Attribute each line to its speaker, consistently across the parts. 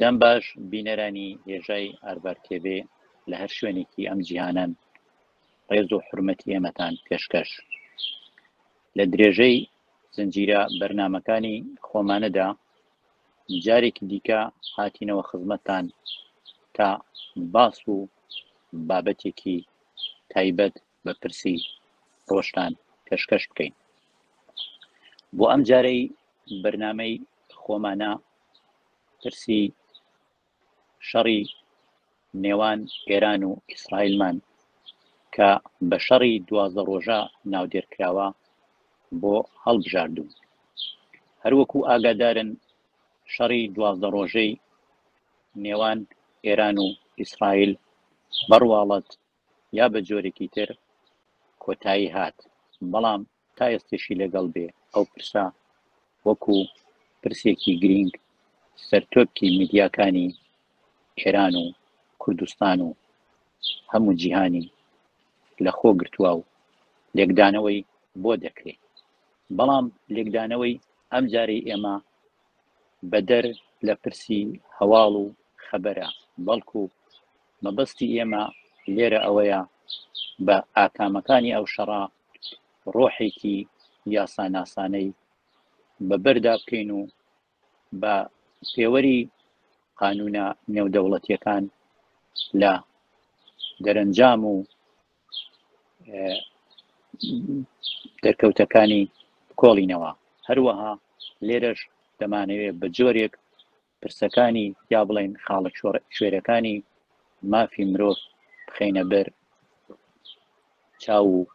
Speaker 1: دەم باش بینەرانی هێژای ئاربار تێبێ لە هەر شوێنێکی ئەم جیهانەن ڕێز و حرمەتی ئێمەتان پێشکەش لە درێژەی زنجیرە بەرنمەکانی خۆمانەدا جارێکی دیکە هاتینەوە خزمەتتان تا باس و بابەتێکی تایبەت بە پرسی ڕۆشتان پێشکەش بکەین بۆ ئەم جارەی بەرنمەی خۆمانە پرسی شەڕی نێوان ئێران و ئیسرائیلمان کە بە شەڕی دوازدە ڕۆژە ناودێرکراوە بۆ هەڵبژاردوون هەروەکو ئاگادارن شەڕی دوازدە ڕۆژەی نێوان ئێران و ئیسرائیل بەڕواڵەت یا بە جۆرێکی تر کۆتایی هات بەڵام تا ئێستەشی لەگەڵ بێ ئەو پرسە وەکو پرسێکی گرینگ سەرتۆپکی میدیاکانی ئێران و کوردستان و هەموو جیهانی لە خۆ گرتووە و لێکدانەوەی بۆ دەکرێت بەڵام لێکدانەوەی ئەم جارەی ئێمە بەدەر لە پرسی هەواڵ و خەبەرە بەڵکو مەبەستی ئێمە لێرە ئەوەیە بە ئاکامەکانی ئەو شەڕا ڕۆحێکی یاساناسانەی بە بەردا بکەین و بە پێوەری قانونە نێودەوڵەتیەکان لە دەرەنجام و دەرکەوتەکانی کۆڵینەوە هەروەها لێرەش دەمانەوێت بە جۆرێک پرسەکانی یا بڵێن خاڵە شوێرەکانی مافی مرۆڤ بخینە بەر چاو و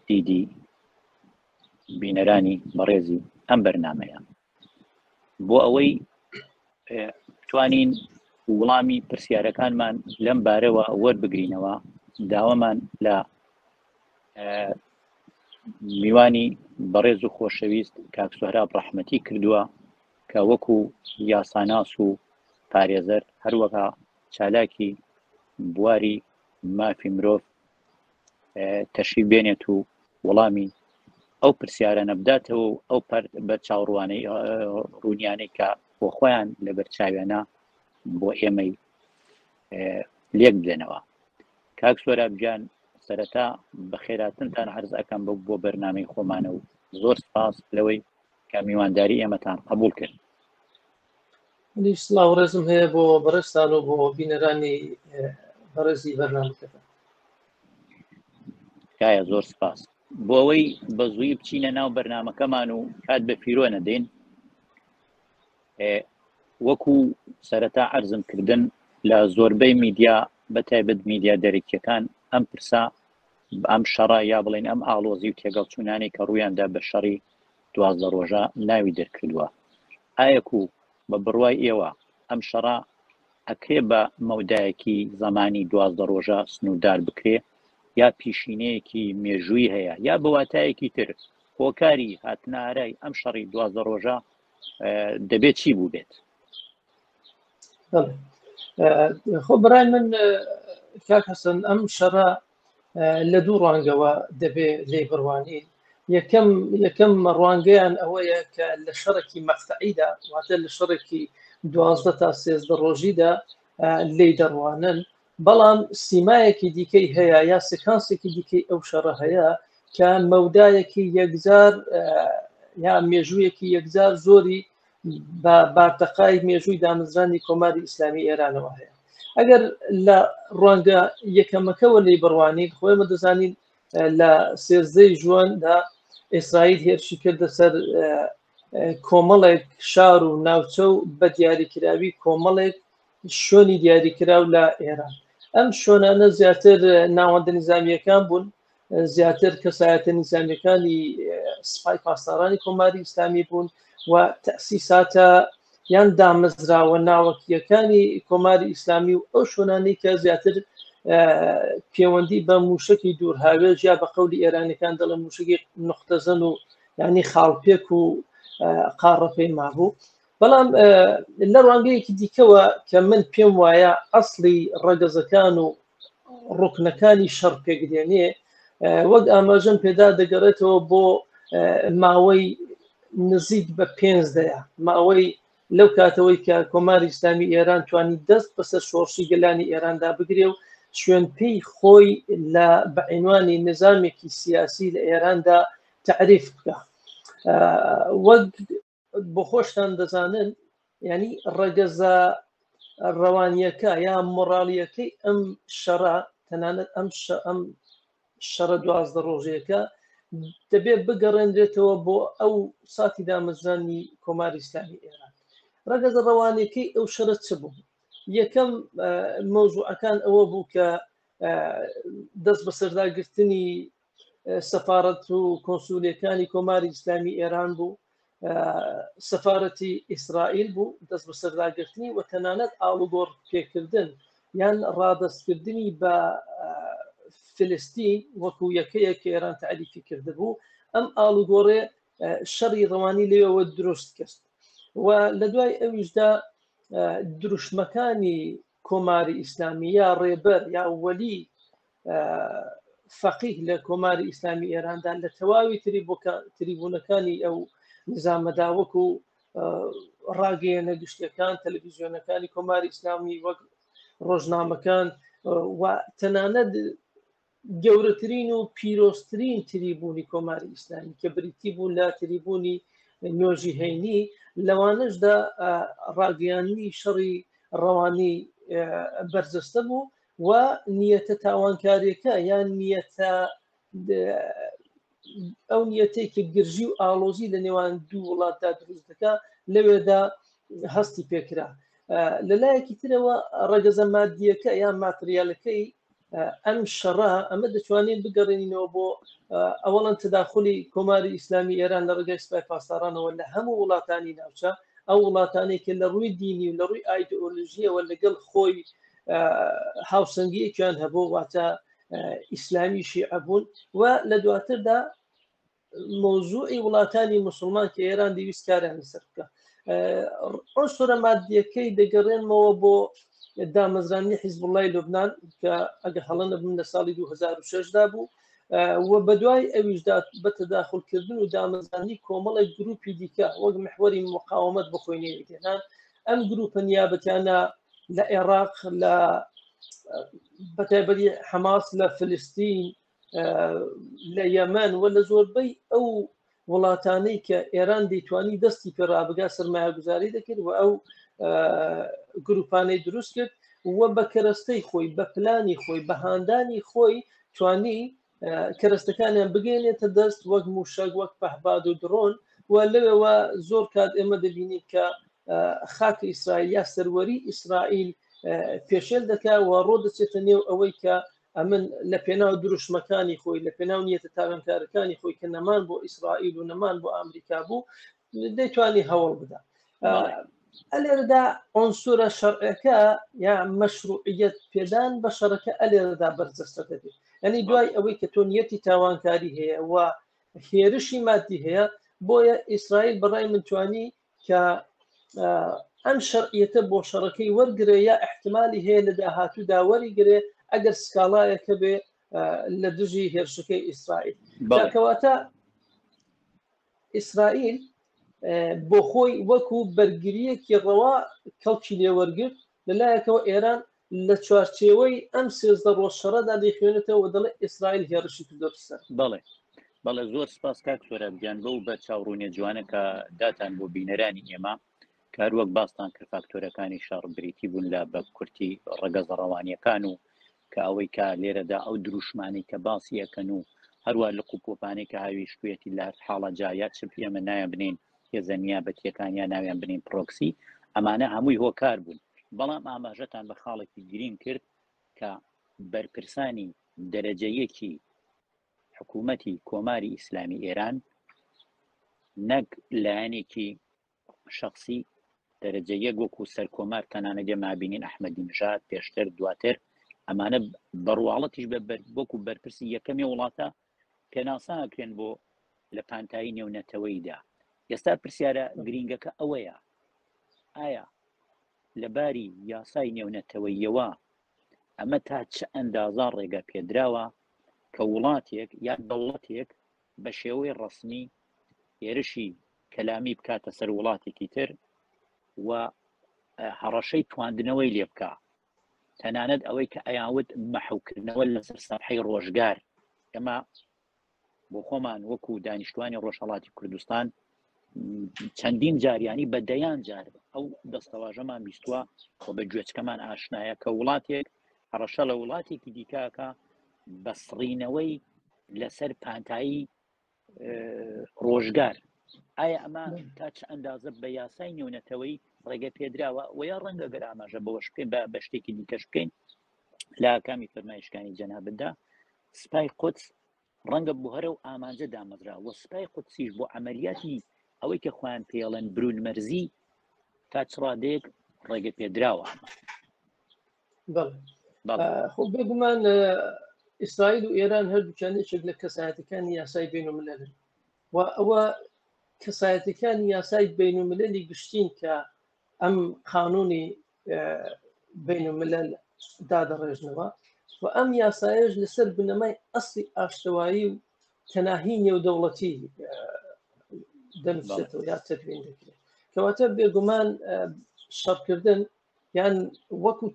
Speaker 1: دیدی بینەرانی بەڕێزی ئەم بەرنمەیە بۆ ئەوەی توانین وڵامی پرسیارەکانمان لەم بارەوە وەربگرینەوە داوامان لە میوانی بەڕێز و خۆشەویست کاک سوهراب ڕەحمەتی کردووە کە وەکو یاساناس و پارێزەر هەروەها چالاکی بواری مافی مرۆڤ تەشی بێنێت و وەڵامی ئەو پرسیارە نەبداتەوە و ئەو پەر بە چاوڕوانەی ڕوونیانەی کە بۆ خۆیان لە بەرچاوێنە بۆ ئێمەی لێک بدەنەوە کاک سۆرابجان سەرەتا بەخێراتنتان عرض ئەەکەم بە بۆ بەرنمەی خۆمانە و زۆر سپاس لەوەی کە میوانداری ئێمەتان قبول کرد سلااو
Speaker 2: ڕێزم هەیە بۆ بەڕێستان و بۆ بینەرانی بەڕێزی
Speaker 1: بەرنامەکەدا تکایە زۆر سپاس بۆ ئەوەی بە زووی بچینە ناو بەرنمەکەمان و کات بە پیرۆ نەدەین وەکو سەرەتا عەرزم کردن لە زۆربەی میدیا بە تایبەت میدیا دەرەکیەکان ئەم پرسا ئەم شەڕە یا بڵێن ئەم ئاڵۆزی و تێگەڵچوونانی کە ڕوویاندا بە شەڕی دوازدە ڕۆژە ناوی دەرکردووە ئایەک و بە بڕوای ئێوە ئەم شەڕە ئەکرێ بە مەودایەکی زمانی دوازدە ڕۆژە سنووردار بکرێ یا پیشینەیەکی مێژووی هەیە یا بەواتایەکی تر هۆکاری هاتنارای ئەم شەڕی دوازدە ڕۆژە دەبێت چی بوو بێت
Speaker 2: خۆ بڕای من کاک حەسەن ئەم شەڕە لە دوو ڕوانگەوە دەبێ لێ بڕوانی یەکەم یەکەم ڕوانگەیان ئەوەیە کە لە شەڕێکی مەقتەعیدا واتە لە شەڕێکی دوازدە تا سێزدە ڕۆژیدا لی دەڕوانن بەڵام سیمایەکی دیکەی هەیە یا سکانسێکی دیکەی ئەو شەڕە هەیە کە مەودایەکی یەکجار یا مێژوویەکی یەکجار زۆری بە بارتەقای مێژووی دامەزرانی کۆماری ئیسلامی ئێرانەوە هەیە ئەگەر لە ڕوانگە یەکەمەکەەوە لی بڕوانین خۆیمە دەزانین لە سێزدەی ژواندا ئیسرائیل هێرشی کردە سەر کۆمەڵێک شار و ناوچە و بە دیاریکراوی کۆمەڵێک شوێنی دیاریکراو لە ئێران ئەم شوێنانە زیاتر ناوەندە نظامیەکان بوون زیاتر کەسایەتە نظامیەکانی سپای پاسدارانی کۆماری ئیسلامی بوون و تەسیساتە یان دامەزراوە ناوەکیەکانی کۆماری ئیسلامی و ئەو شوێنانی کە زیاتر پەیوەندی بە موشکی دوور هاوێژ یا بە قولی ئێرانەکان دەڵێن موشکی نقطەزن و ینی خاڵپێک و قاڕەپەی مابوو بەڵام لە ڕوانگەیەکی دیکەوە کە من پێم وایە ئەسڵی ڕەگەزەکان و ڕوکنەکانی شەڕ پێکدێنێ وەک ئاماژەم پێدا دەگەڕێتەوە بۆ ماوەی نزیک بە پێنج دەیە ماوەی لەو کاتەوەی کە کۆماری ئسلامی ئێران توانی دەست بەسەر شۆڕشی گەلانی ئێراندا بگرێ و شوێن پێی خۆی لە بەعینوانی نظامێکی سیاسی لە ئێراندا تعریف بکە وەک بۆ خۆشتان دەزانن ینی ڕەگەزە ڕەوانیەکە یا مۆڕالیەکەی ئەم شەڕە تەنانەت ئەم ئەم شەڕە دوازدە ڕۆژەکە دەبێت بگەڕێنرێتەوە بۆ ئەو ساتی دامەزرانی کۆماری ئسلامی ئێران ڕەگەزە ڕەوانەکەی ئەو شەرە چ بوو یەکەم مەوزوعەکان ئەوە بوو کە دەست بە سەرداگرتنی سەفاڕەت و کۆنسولیەکانی کۆماری ئیسلامی ئێران بوو سەفاەتی ئیسرائیل بوو دەست بە سەرداگرتنی و تەنانەت ئاڵوگۆڕ پێکردن یان ڕادستکردنی بە فلستین وەکو یەکەیە کە ئێران تعریفی کردبوو ئەم ئاڵوگۆڕێ شەڕی ڕەوانی لێەوە دروست کرد و لە دوای ئەویشدا دروشمەکانی کۆماری ئیسلامی یا ڕێبەر یا وەلی فەقیه لە کۆماری ئیسلامی ئێراندا لە تەواوی تری بۆ تریبوونەکانی ئەو نزامەداوەک و ڕاگەیەنە گشتەکان تەلەڤیزیۆنەکانی کۆماری ئیسلامی وەک ڕۆژنامەکان و تەنانەت گەورەترین و پیرۆزترین تریبوونی کۆماری ئیسلامی کە بریتی بوو لە تریبوونی نۆژی هەینی لەوانەشدا ڕاگەیاننی شەڕی ڕەوانی بەرجەستە بوو و نیەتە تاوانکاریەکە یان نیەتە ئەو نیەتەی کە گرژی و ئاڵۆزی لە نێوان دوو وڵاتدا دروست دەکە لەوێدا هەستی پێکرا لە لایەکی ترەوە ڕەگەزە مادیەکە یان ماتریالەکەی ئەم شەڕە ئەمە دەتوانین بگەڕێنینەوە بۆ ئەوەڵەن تداخلی کۆماری ئیسلامی ئێران لە ڕگەی سپای پاسدارانەوە لە هەموو وڵاتانی ناوچە ئەو وڵاتانێک لە ڕووی دینی و لە ڕووی ئایدۆلژیەوە لەگەڵ خۆی هاوسەنگیەکیان هەبوو واتە ئیسلامی شیعە بوون و لە دواتردا مۆزوعی وڵاتانی مسلمان کە ئێران دەویست کاریان لەسەر بکە ئەو سۆرە مادیەکەی دەگەڕێنمەوە بۆ دامەزرانی حیزب وڵی لوبناان کە ئەگە هەڵەنە بم لە ساڵی 2006دا بوو و بەدوای ئەویشدا بە تەداخلکردن و دامەزانی کۆمەڵی گروپی دیکە وەک محوەری مقاومەت بخۆینێنان ئەم گروپە نیابەتیانە لە عێراق لە بەتابەری حەماس لە فلستین لە یەمەن و لە زۆربەی ئەو وڵاتانەی کە ئێران دەیتوانی دەستی پێ ڕابگا سرمایە گوزاری دەکرد و ئەو گروپانەی دروست کرد و بە کەرەستەی خۆی بە پلانی خۆی بە هاندانی خۆی توانی کەرەستەکانیان بگەێنێتە دەست وەک موشەک وەک پەهباد و دڕۆن و لەوەوە زۆر کات ئێمە دەبینیت کە خاک ئیسرائیل یا سەروەری ئیسرائیل پێشێل دەکە و ڕۆ دەچێتە نێو ئەوەی کە ئەمن لە پێناو دروشمەکانی خۆی لە پێناو نیەتە تاوانکارەکانی خۆی کە نەمان بۆ ئیسرائیل و نەمان بۆ ئەمریکا بوو دەیتوانی هەوڵ بدا ئەلێرەدا ئۆنسورە شەرعەکە یا مەشروعیت پێدان بە شەڕەکە ئەلێرەدا بەرجەستە دەبێت ئەنی دوای ئەوەی کە تۆ نیەتی تاوانکاری هەیە و هێرشی مادی هەیە بۆیە ئیسرائیل بەڕای منتوانی کە ئەم شەرعیەتە بۆ شەڕەکەی وەرگێ یا احتمالی هەیە لە داهاتوو داوەری گرێ ئەگەر سکاڵایەکە بێ لە دژی هێرشەکەی ئیسرائیل بەڵکەواتە ئیسرائیل بۆ خۆی وەکو بەرگرییەکی ڕەوا کەڵکی لێ وەرگرت، لەلایەکەوە ئێران لە چوارچێوەی ئەم سێزدە ڕۆژ شەڕەدا دەیخوێنێتەوە و دەڵێت ئیسرائیل هێڕشی کردۆتە سەر. بەڵێ بەڵێ
Speaker 1: زۆر سپاس کاک سۆراب گیان بەو بەرچاو ڕوونە جوانە کە داتان بۆ بینەرانی ئێمە. کار وەک باستان کرد فاکتۆرەکانی شەڕ بریتی بوون لە بە کورتی ڕەگەزە ڕەوانیەکان و کە ئەوەی کا لێرەدا ئەو دروشمانی کە باسی ئەەکەن و هەروە لە قوپۆپانەی کە هاویشتوێتی لە حاڵە جایا چپ ئێمە نایان بنین هێزەنیا بەتیەکانیان ناویان بنین پرۆکسی ئەمانە هەمووی هۆکار بوون بەڵام ئاماژەتان بە خاڵێکی گرین کرد کە بەرپرسانی دەرەجەیەکی حکوومەتی کۆماری ئیسلامی ئێران نەک لایەنێکی شخصی دەرەجە یەک وەکو سەرکۆمار تەنانەجە مابینین ئەحمەدی نژات پێشتر دواتر ئەمانە بڕواڵەتیش بە وەکو بەرپرسی یەکەمی وڵاتە پێناساکرێن بۆ لە پانتایی نێونەتەوەیدا ئێستا پرسیارە گرینگەکە ئەوەیە ئایا لە باری یاسای نێونەتەوەییەوە ئەمە تا چ ئەندازە ڕێگە پێدراوە کە وڵاتێک یا دەوڵەتێک بە شێوەی ڕسمی هێرشی کەلامی بکاتە سەر وڵاتێکی تر و هەڕەشەی تواندنەوەی لێ بکە تەنانەت ئەوەی کە ئەیاوت مەحوکردنەوە لەسەر سەحی ڕۆژگار ئەمە بۆ خۆمان وەکو دانیشتوانی ڕۆژهڵاتی کوردستان چەندین جاریانی بە دەیان جار ئەو دەستەواژەمان بیستوە خۆ بە گوێچکەمان ئاشنایە کە وڵاتێک هەڕەشە لە وڵاتێکی دیکاکە بەسڕینەوەی لەسەر پانتایی ڕۆژگار ئایا ئەمە تا چ ئەندازە بە یاسای نێونەتەوەی ڕێگە پێدراوە و یا ڕەنگە گەر ئاماژە بەوەش بکەین بە بە شتێکی دیکەش بکەین لا کامی فەرمایشکانی جەنابدا سپای قودس ڕەنگە بۆ هەرە و ئامانجە دامەزرا و سپای قودسیش بۆ عملیاتی ئەوەی کە خۆیان پێڵێن برون مەرزی تا چڕادێک ڕێگە پێدراوە
Speaker 2: خۆ بێگومان ئیسرائیل و ئێران هەردووچان یەکێک لە کەسایەتەکانی یاسای بین و ملەن و ئەوە کەسایەتەکانی یاسای بین و ملەلی گشتین کە ئەم قانونی بین الملل دادەڕێژنەوە و ئەم یاسایش لەسەر بنەمای ئەستی ئاشتەوایی و تەناهی نێودەوڵەتی دەنووسێتەوە یا تدوین دەکرێت کەواتە بێگومان شەڕکردن یان وەکو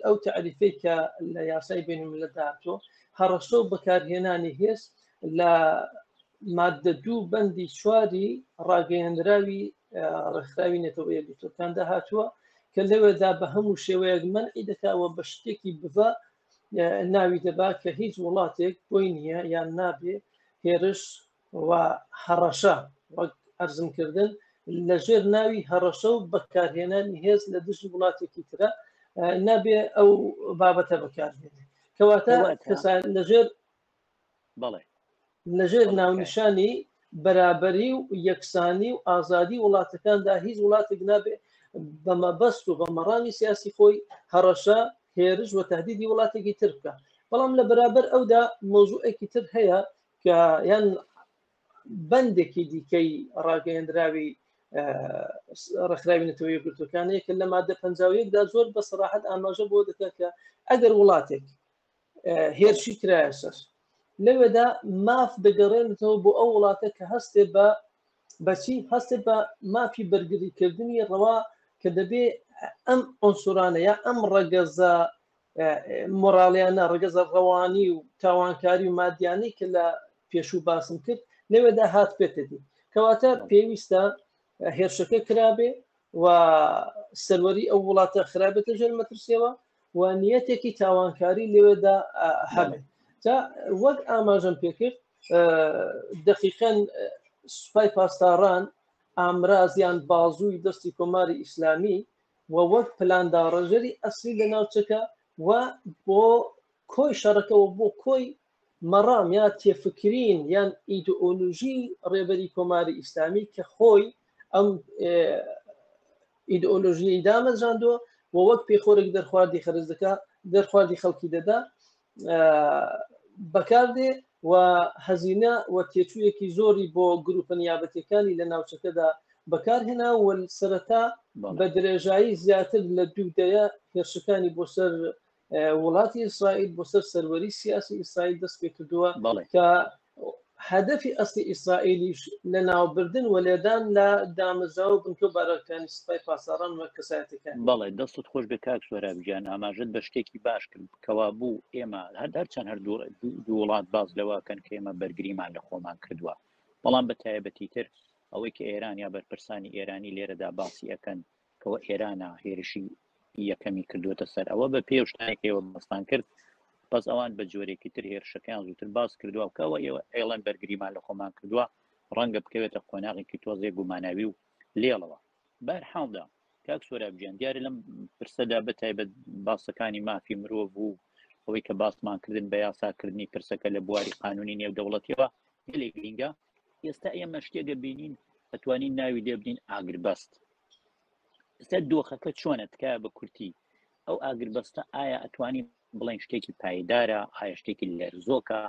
Speaker 2: ئەو تعریفەی کە لە یاسای بینم لە داهاتۆ هەڕەشە و بەکارهێنانی هێز لە ماددە دوو بەندی چواری ڕاگەیەنراوی ڕێکخراوی نەتەوە یەکگرتوەکاندا هاتووە کە لەوێدا بە هەموو شێوەیەک منعی دەکەوە بە شتێکی بڤە ناوی دەبا کە هیچ وڵاتێک بۆی نییە یان نابێ هێرش و هەڕەشە وەک ئەرزمکردن لە ژێر ناوی هەڕەشە و بەکارهێنانی هێز لە دژی وڵاتێکی ترە نابێ ئەو بابەتە بەکارهێنێت کەواتە کەسان لەژێر بەڵێ لەژێر ناونیشانی بەرابەری و یەکسانی و ئازادی وڵاتەکاندا هیچ وڵاتێک نابێ بە مەبەست و بە مەڕامی سیاسی خۆی هەڕەشە هێرش و تهدیدی وڵاتێکی تر بکە بەڵام لە بەرابەر ئەودا مۆزوعێکی تر هەیە کە یان بەندێکی دیکەی ڕاگەیەندراوی ڕخراوی نەتەوە یەکگرتوەکانەیە کە لە مادە پنجاویەکدا زۆر بە سەراحەت ئاماژە بۆ دەکات کە ئەگەر وڵاتێک هێرشی کرایە سەر لەوێدا ماف دەگەڕێنێتەوە بۆ ئەو وڵاتە کە هەستێ بە بەچی هەستێ بە مافی بەرگریکردنی ڕەوا کە دەبێ ئەم ئۆنسورانە یا ئەم ڕەگەزە مۆراڵیانە ڕگەزە ڕەوانی و تاوانکاری و مادیانی کە لە پێشوو باسم کرد لەوێدا هات پێتەدی کەواتە پێویستە هێرشەکە کرابێ و سەروەری ئەو وڵاتە خراپێتە ژێر مەترسیەوە و نیەتێکی تاوانکاری لەوێدا هەبێت جا وەک ئاماژەم پێکرد دقیقەن سوپای پاسداران ئامرازیان بازووی دەستی کۆماری ئیسلامی و وەک پلانداڕژەری ئەسلی لە ناوچەکە و بۆ کۆی شەڕەکەەوە بۆ کۆی مەڕام یا تێفکرین یان ئیدئۆلوژی ڕێبەری کۆماری ئیسلامی کە خۆی ئەم ئیدئۆلۆژیی دامەزراندووە و وەک پێخۆرێک دەرخواردی خەرز دەکە دەرخواردی خەڵکی دەدا بەکاردێ و هەزینە و تێچوویەکی زۆری بۆ گروپە نیابەتەکانی لە ناوچەکەدا بەکارهێنا و سەرەتا بە درێژایی زیاتر لە دوو دەیە هێرشەکانی بۆ سەر وڵاتی ئیسرائیل بۆ سەر سەروەری سیاسی ئیسرائیل دەست پێ کردووە کە هەدەفی ئەستی ئیسرائیلیش لە ناوبردن و لێدان لە دامەزاو بنکە بارەکانی سپای پاسەڕان وە کەسایەتەکان بەڵێ دەستت خۆش
Speaker 1: بێ کاک سۆرا بگیان ئاماژت بە شتێکی باش کرد کەوا بوو ئێمە هەر هەرچەند هەر دوو وڵات باز لەواکەن کە ئێمە بەرگریمان لە خۆمان کردووە بەڵام بە تایبەتی تر ئەوەی کە ئێران یا بەرپرسانی ئێرانی لێرەدا باسی ئەەکەن کەوە ئێرانە هێرشی یەکەمی کردوێتە سەر ئەوە بە پێ شتانێکەوە بەستان کرد بەس ئەوان بە جۆرێکی تر هێرشەکان زووتر باس کردووە کەەوە ئێوە ئێڵەن بەرگریمان لە خۆمان کردووە ڕەنگە بکەوێتە قۆناغێکی تۆزێ گوماناوی و لێڵەوە بار حاڵدا کاک سۆرابجیان دیارە لەم پرسەدا بە تایبەت باسەکانی مافی مرۆڤ بوو ئەوەی کە باسمان کردن بە یاساکردنی پرسەکە لە بواری قانونی نێو دەوڵەتیەوە لێ گرینگە ئێستا ئێمە شتێگە بینین ئەتوانین ناوی لێ بدین ئاگربەست ئێستا دۆخەکە چۆنە تکایە بە کورتی ئەو ئاگربەستە ئایا ئەتوانی بڵێن شتێکی پایدارە ئایا شتێکی لەرزۆکە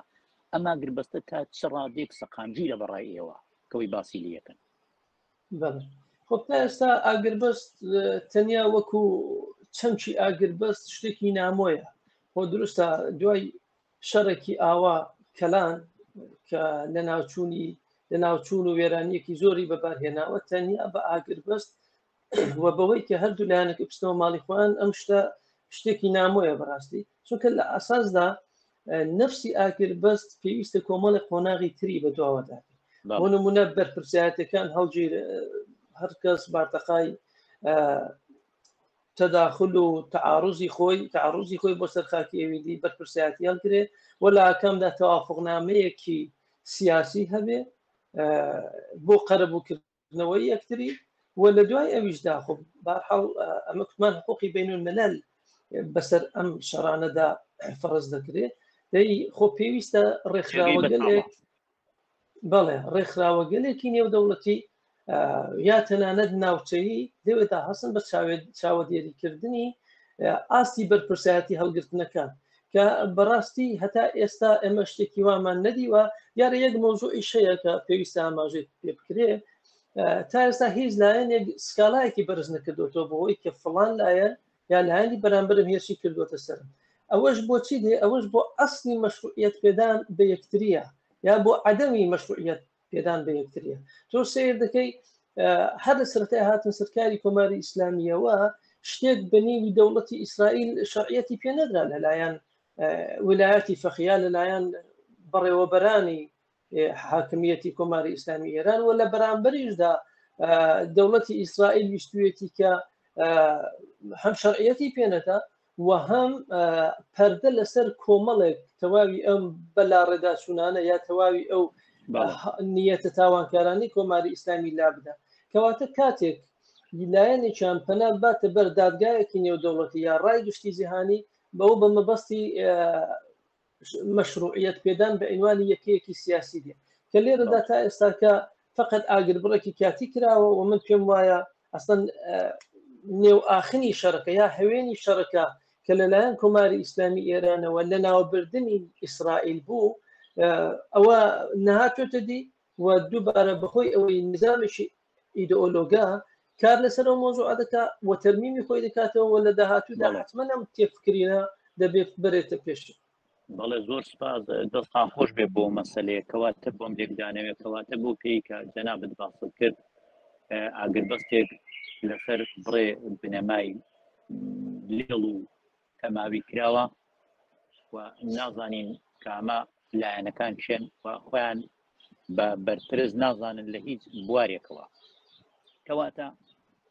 Speaker 1: ئەما گربەستە تا چ ڕادێک سەقامگیرە بەڕای ئێوە کەەوەی باسی لەکەن
Speaker 2: خۆ تا ئێستا ئاگربەست تەنیا وەکو چەمچی ئاگربەست شتێکی نامۆیە خۆ دروستە دوای شەڕێکی ئاوا کەلان کە لە ناوچوونی لە ناوچوون و وێرانیەکی زۆری بەبارهێناوە تەنیا بە ئاگر بەست و بەوەی کە هەردوو لایەنەکە پستەوە ماڵی خۆیان ئەم شتە شتێکی نامۆیە بەڕاستی چونکە لە ئاساسدا نفسی ئاگر بەست پێویستە کۆمەڵی قۆناغی تری بە دواوەدا بۆ نمونە بەرپرسیاتەکان هەڵگیر هەرکەس بارتەقای تەداخل و تەعاڕوزی خۆی تەعاڕوزی خۆی بۆ سەر خاکی ئێویدی بەرپرسیارەتی هەڵگرێ و لە ئاکامدا تەوافقنامەیەکی سیاسی هەبێ بۆ قەرەبووکردنەوەی یەکتری و لە دوای ئەویشدا خۆ بارحاڵ ئەمە کوتمان حقوقی بین و مەلەل بەسەر ئەم شەڕانەدا فەرز دەکرێت دەی خۆ پێویستە ڕێکخراوەگەلێک بەڵێ ڕێکخراوەگەلێکی نێودەوڵەتی یا تەنانەت ناوچەیی دەوێتدا هەستن بە چاوەدێریکردنی ئاستی بەرپرسایەتی هەڵگرتنەکان کە بەڕاستی هەتا ئێستا ئێمە شتێکی وامان نەدیوە یارە یەک مۆزوعی شەیە کە پێویستە ئاماژەی پێ بکرێ تا ئێستا هیچ لایەنێک سکاڵایەکی بەرز نەکردوەوە بۆ ئەوی کە فلان لایەن یا لایەنی بەرامبرم هێرشی کردوەتە سەرم ئەوەش بۆچی دێ ئەوەش بۆ ئەسنی مەشروعیت پێدان بە یەکتریە یا بۆ عدەمی مەشروعیت پێدان بە یەکتریە تۆ سیر دەکەی هەر لە سەرەتای هاتن سەرکاری کۆماری ئیسلامیەوە شتێک بەنیوی دەوڵەتی ئیسرائیل شعەتی پێ نەدرا لەلایەن ولایەتی فەخیا لەلایەن بەڕێوەبەرانی حاکمیەتی کۆماری ئیسلامی ئێران و لە بەرامبەریشدا دەوڵەتی ئیسرائیل ویستویەتی کە هەم شەرعەتی پێنەدا و هەم پەردە لەسەر کۆمەڵێک تەواوی ئەم بەلا ڕێداچوونانە یا تەواوی ئەو نیەتە تاوانکارانی کۆماری ئیسلامی لا بدە کەواتە کاتێک لایەنێکیان پەنا باتە بەر دادگایەکی نێودەوڵەتی یا ڕای گشتی جیهانی بەو بە مەبەستی مەشروعیت پێدان بە ئەنوانی یەکەیەکی سیاسی دێ کە لێرەدا تا ئێستاکە فقط ئاگر بڕێکی کاتی کراوە و من پێم وایە ئەسن نێو ئاخنی شەرەکە یا هەوێنی شەرەکە کە لەلایەن کۆماری ئیسلامی ئێرانەوە لە ناوبردننی ئیسرائیل بوو ئەوە نهاتێتە دی و دووبارە بەخۆی ئەوەی نزانێکی ئیدئۆلۆگە کار لەسەر ئەو مۆزوع دەکا و تەرمیمی خۆی دەکاتەوە لە داهاتوودا حتممە ئەم تێفکرینە دەبێت بەرێتە پێش بەڵێ زۆر
Speaker 1: سپاس دەستان خۆش بێ بۆ مەسلەیە کەواتە بۆم لێکدانەوێت کەواتە بۆ پێی کە جەنابەت باست کرد ئاگربەستێک لەسەر بڕێ بنەمای لێڵ و تەماوی کراوە و نازانین کامە لایەنەکان چێن و خۆیان بە بەرپرس نازانن لە هیچ بوارێکەوە کەواتە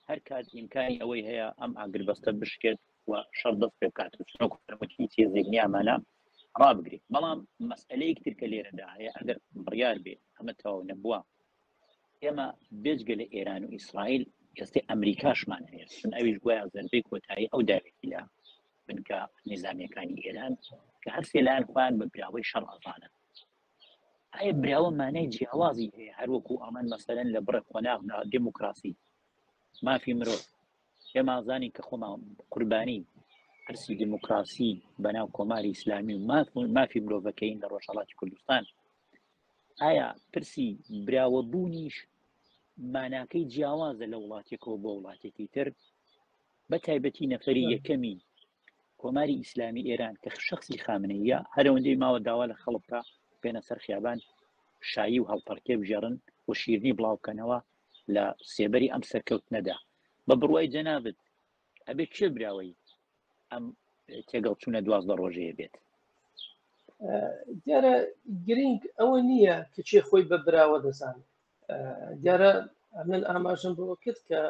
Speaker 1: هەر کات ئیمکانی ئەوەی هەیە ئەم ئاگربەستە بشکێت و شەر دەست پێ بکات و سنۆک فرموتی تێزێک نیامانە ڕابگرێت بەڵام مەسئلەیەک ترکە لێرەدا هەیە ئەگەر بڕیار بێت ئەمە تەواو نەبووە ئێمە بێجگە لە ئێران و ئیسرائیل ئێستی ئەمریکاشمان هەیە چون ئەویش گویا زەربەی کۆتایی ئەو داوێتی لە بنکە نظامیەکانی ئێران کە هەر سێلان خۆیان بە براوەی شەڕ ئەزانە ئایا براوە مانای جیاوازی هەیە هەروەکو ئەمان مەسەرەن لە بڕە قۆناغدا دموکراسی مافی مرۆڤ پێمازانی کە خۆمان قوربانی پرسی دموکراسی بەناو کۆماری ئیسلامی و مافی مرۆڤەکەین لە ڕۆژهڵاتی کوردستان ئایا پرسی براوەبوونیش ماناکەی جیاوازە لە وڵاتێکەوە بۆ وڵاتێکی تر بە تایبەتی نەفری یەکەمی کۆماری ئیسلامی ئێران کە شخصی خامنەیە هەرەوەندەی ماوە داوا لە خەڵکە بێنە سەر خیابان شایی و هەڵپەرکێ بژێرن و شیرنی بڵاوکەنەوە لە سێبەری ئەم سەرکەوت نەدا بە بڕوای جەنابەت ئەبێت کێ براوەی ئەم تێگەڵ چوونە دوازدە ڕۆژەیە بێت دیارە
Speaker 2: گرنگ ئەوە نییە کە چێ خۆی بە براوە دەزانێت دیارە من ئاماژم بۆ کرد کە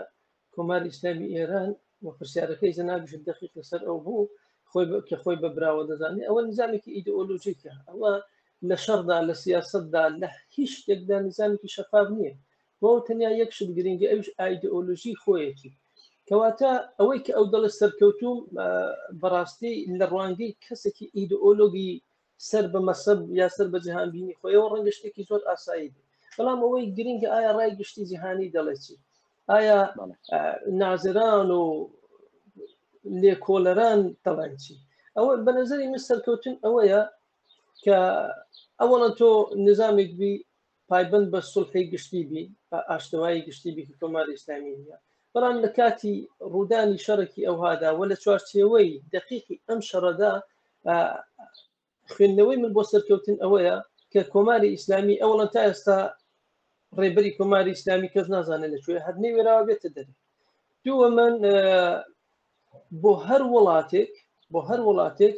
Speaker 2: کۆمار ئیسلامی ئێران و پرسیارەکەی زەنابش دەقیق لەسەر ئەو بوو خۆی کە خۆی بە براوە دەزانێت ئەوە نزانێکی ئیدئۆلۆژیکە ئەوە لە شەردا لە سیاستدا لە هیچ شتێکدا نزانێکی شەفاف نییە بۆ تەنیا یەک شت گرنگی ئەوش ئایدئۆلۆژی خۆیەتی کەواتە ئەوەی کە ئەو دەڵێ سەرکەوتوم بەڕاستی لە ڕوانگەی کەسێکی ئیدئۆلۆگی سەر بە مەسەب یا سەر بە جیهانبینی خۆیەوە ڕەنگە شتێکی زۆر ئاسایی بێت بەڵام ئەوەی گرنگە ئایا ڕای گشتی جیهانی دەڵێ چی ئایا نازران و لێکۆلەران دەڵێن چی ئەوە بە نظری من سەرکەوتن ئەوەیە کە ئەوەڵە تۆ نظامێک بی پایبند بە سلحی گشتی بی بە ئاشتەوایی گشتی بی کۆمار ئیسلامی نیە بەڵام لە کاتی ڕوودانی شەڕێکی ئەوهادا و لە چوارچێوەی دقیقی ئەم شەڕەدا خوێندنەوەی من بۆ سەرکەوتن ئەوەیە کە کۆماری ئیسلامی ئەوڵە تا ئێستا ڕێبەری کۆماری ئیسلامی کەس نازانێت لەکوێ هەر نەوێراوە بێتە دەرێ دووە من بۆ هەر وڵاتێک بۆ هەر وڵاتێک